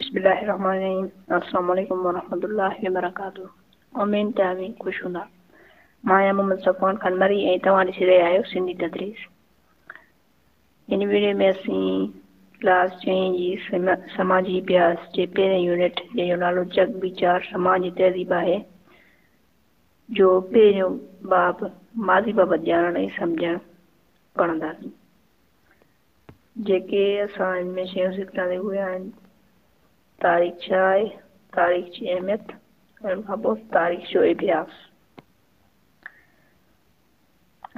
بسم الله الرحمن الرحيم السلام عليڪم ورحمة الله وبرڪاته امين ته اوهين خوش هوندا مان آهيان محمد صفوان خان مري ۽ توهان ڏسي رهيا آهيو سنڌي تدريس ان ويڊيو ۾ اسين ڪلاس چئين جي سماجي اڀياس جي پهرين يونٽ جنهن جو نالو جڳ ويچار سماج جي تهذيب آهي جو پهريون باب ماضي بابت ڄاڻڻ ۽ سمجهڻ پڙهنداسين. جيڪي اسان هن ۾ شيون سکڻ تي اهي آهن، تاريخ ڇا آهي، تاريخ جي اهميت ۽ ان کان پوء تاريخ جو اڀياس.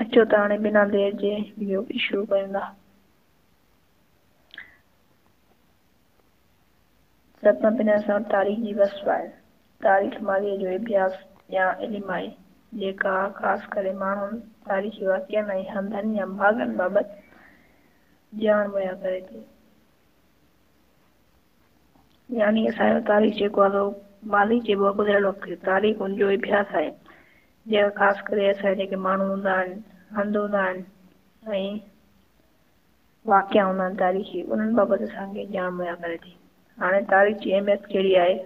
اچو ته هاڻي بنا دير جي ويڊيو کي شروع ڪريون ٿا. سڀ کان پھريان اسان وٽ تاريخ جي وصف آھي. تاريخ ماضيء جو اڀياس يا علم آھي، جيڪا خاص ڪري ماڻھن، تاريخي واقعن ۽ ھنڌن يا مھاڳن بابت ڄاڻ مھيا ڪري ٿي. يعني اسان جو تاريخ جيڪو آھي سو ماضي چئبو آھي گذريل وقت کي. تاريخ ان جو اڀياس آھي، جيڪا خاص ڪري اسان جا جيڪي ماڻھو ھوندا آھن، ھنڌ ھوندا آھن ۽ واقعا هوندا آهن تاريخي انهن بابت اسان کي ڄاڻ مهيا ڪري ٿي هاڻي تاريخ جي اهميت ڪهڙي آهي؟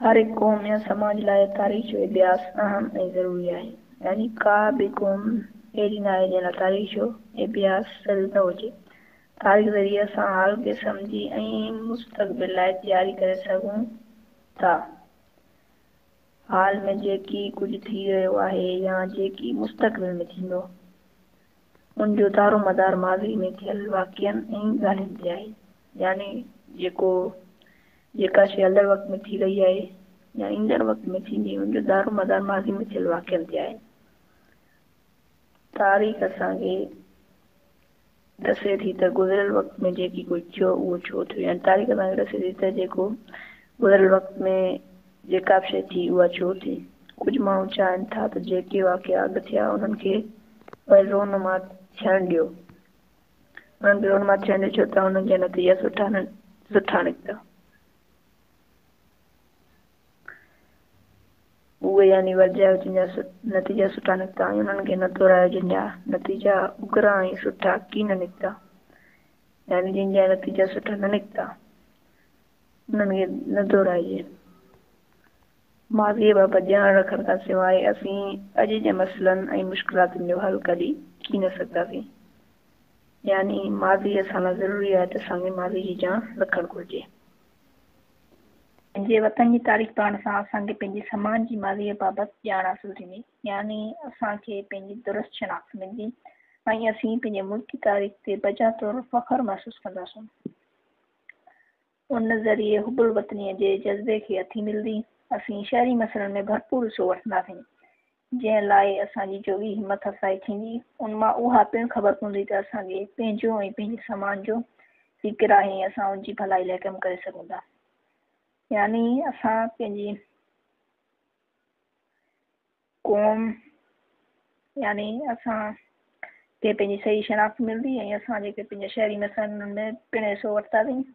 هر هڪ قوم يا سماج لاء تاريخ جو اڀياس اهم ۽ ضروري آهي يعني ڪا به قوم اهڙي ناهي جنهن لاء تاريخ جو اڀياس ضروري نه هجي تاريخ ذريعي اسان حال کي سمجهي ۽ مستقبل لاء تياري ڪري سگهون ٿا. حال ۾ جيڪي ڪجهه ٿي رهيو آهي يا جيڪي مستقبل ۾ ٿيندو، ان جو دارومدار ماضي ۾ ٿيل واقعن ۽ ڳالهين تي آهي. يعني جيڪو جيڪا شيء هلندڙ وقت ۾ ٿي رهي آهي يا ايندڙ وقت ۾ ٿيندي، ان جو دارومدار ماضي ۾ ٿيل واقعن تي آهي. تاريخ اسان کي ڏسي ٿي ته گذريل وقت ۾ جيڪي ڪجهه ٿيو اهو ڇو ٿيو يعني تاريخ اسان کي ڏسي ٿي ته جيڪو گذريل وقت ۾ جيڪا به شيء ٿي اها ڇو ٿي. ڪجهه ماڻهو چاهن ٿا ته جيڪي واقعا اڳ ٿيا انهن کي وري رونما ٿيڻ ڏيو. انهن کي رونما ٿيڻ ڏيو ڇو ته انهن جا نتيجا سٺا نه سٺا نڪتا. اهي يعني ورجايو جن جا نتيجا سٺا نڪتا ۽ انهن کي نه دهرايو جن جا نتيجا اگرا ۽ سٺا ڪين نڪتا يعني جن جا نتيجا سٺا نه نڪتا انهن کي نه دهرائجي ماضي بابت ڄاڻ رکڻ کان سواء اسين اڄ جي مسئلن ۽ مشڪلاتن جو حل ڪڍي ڪين سگهنداسين يعني ماضي اسان لاء ضروري آهي ته اسان کي ماضي جي ڄاڻ رکڻ گهرجي. پنهنجي وطن جي تاريخ پڙهڻ سان اسان کي پنهنجي سماج جي ماضيء بابت ڄاڻ حاصل ٿيندي، يعني اسان کي پنهنجي درست شناخت ملندي ۽ اسين پنهنجي ملڪي تاريخ تي بجا طور فخر محسوس ڪنداسون. ان ذريعي حب الوطنيء جي جذبي کي اٿي ملندي. اسين شهري مسئلن ۾ ڀرپور حصو وٺنداسين. جنهن لاء اسان جي جوڳي همٿ افزائي ٿيندي، ان مان اها پڻ خبر پوندي ته اسان کي پنهنجو ۽ پنهنجي سماج جو فڪر آهي ۽ اسان ان جي ڀلائي لاء ڪم ڪري سگهون ٿا. يعني اسان پنهنجي قوم يعني اسان کي پنهنجي صحيح شناخت ملندي ۽ اسان جيڪي پنهنجا شهري مسئلا آهن انهن ۾ پڻ حصو وٺنداسين.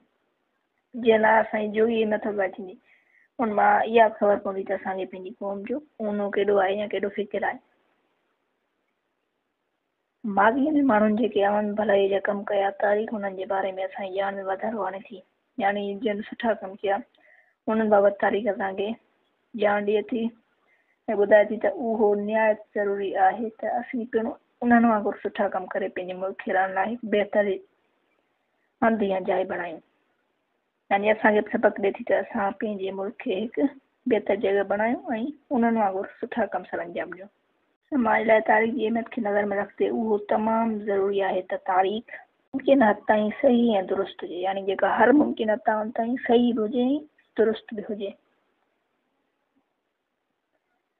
جي الله يا سائين جو ئي نه ٿو ڳائجي ان مان اها خبر پوندي ته اسان کي پنهنجي قوم جو اونو ڪيڏو آهي يا ڪيڏو فڪر آهي ماضي ۾ ماڻهن جيڪي عوامي ڀلائي جا ڪم ڪيا تاريخ انهن جي باري ۾ اسان جي ڄاڻ ۾ واڌارو آڻي ٿي يعني جن سٺا ڪم ڪيا انهن بابت تاريخ اسان کي ڄاڻ ڏئي ٿي ۽ ٻڌائي ٿي ته اهو نهايت ضروري آهي ته اسين پڻ انهن وانگر سٺا ڪم ڪري پنهنجي ملڪ کي رهڻ لاء هڪ بهتر هنڌ يا جاء بڻايون. يعني اسان کي به سبق ڏئي ٿي ته اسان پنهنجي ملڪ کي هڪ بهتر جڳهه بڻايون ۽ انهن وانگر سٺا ڪم سرانجام ڏيون. سماج لاء تاريخ جي اهميت کي نظر ۾ رکندي اهو تمام ضروري آهي ته تاريخ، ممڪن حد تائين صحيح ۽ درست هجي، يعني جيڪا هر ممڪن حد تائين صحيح به هجي ۽ درست به هجي.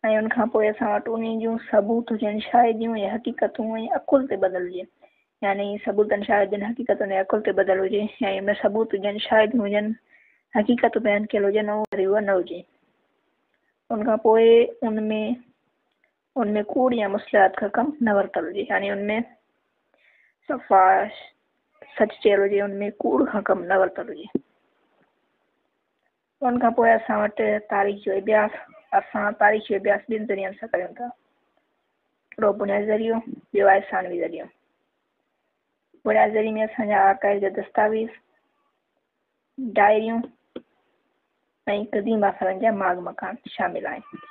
۽ ان کان پوء اسان وٽ انهي جون ثبوت هجن، شاهديون ۽ حقيقتون ۽ عقل تي ٻڌل هجي يعني ثبوتن، شاهدين، حقيقتن ۽ عقل تي ٻڌل هجي يعني ان ۾ ثبوت هجن، شاهديون هجن، حقيقت بيان ڪيل هجن ۽ وري اها نه هجي. ان کان پوء ان ۾ ان ۾ ڪوڙ يا مصلحت کان ڪم نه ورتل هجي يعني ان ۾ صفا سچ چيل هجي ان ۾ ڪوڙ کان ڪم نه ورتل هجي. ان کان پوء اسان وٽ تاريخ جو اڀياس اسان تاريخ جو اڀياس ٻن ذريعن سان ڪريون ٿا هڪڙو بنيادي ذريعو ٻيو آهي ثانوي ذريعو بنيادي ذريعي ۾ اسان جا آرڪائيو جا دستاويز ڊائريون ۽ قديم آثارن جا ماڳ مڪان شامل آهن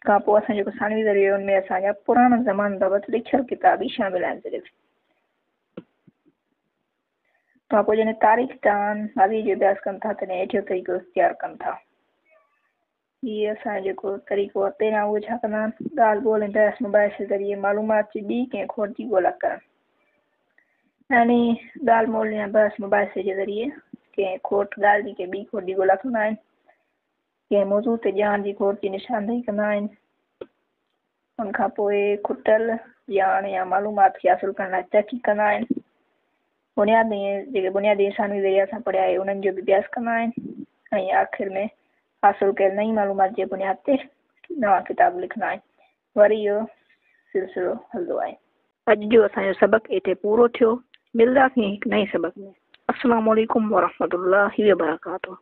کان پوء اسان جيڪو ثانوي ذريعو ان ۾ اسان جا پراڻا زمان بابت لکيل ڪتاب ئي شامل آهن صرف کان پوء جڏهن تاريخ تان ماضي جو اڀياس ڪن ٿا تڏهن هيٺيون طريقو اختيار ڪن ٿا هي اسان جو جيڪو طريقو آهي پهريان اهو ڇا ڪندا آهن ڳالهه ٻولهه ۽ بحث مباحثي ذريعي معلومات جي ٻي ڪنهن کوٽ جي ڳولا ڪرڻ يعني ڳالهه مول يا بحث مباحثي جي ذريعي ڪنهن کوٽ ڳالهه جي ڪنهن ٻي کوٽ جي ڳولا ڪندا آهن ڪنهن موضوع تي ڄاڻ جي گهور جي نشاندهي ڪندا آهن. ان کان پوء کٽل ڄاڻ يا معلومات کي حاصل ڪرڻ لاء تحقيق ڪندا آهن. بنياد ۾ جيڪي بنيادي انساني ذريعا سان پڙهيا آهي انهن جو به اڀياس ڪندا آهن ۽ آخر ۾ حاصل ڪيل نئين معلومات جي بنياد تي نوان ڪتاب لکندا آهن وري اهو سلسلو هلندو آهي اڄ جو اسان جو سبق اتي پورو ٿيو ملداسين هڪ نئين سبق ۾ السلام عليڪم ورحمة الله وبرڪاته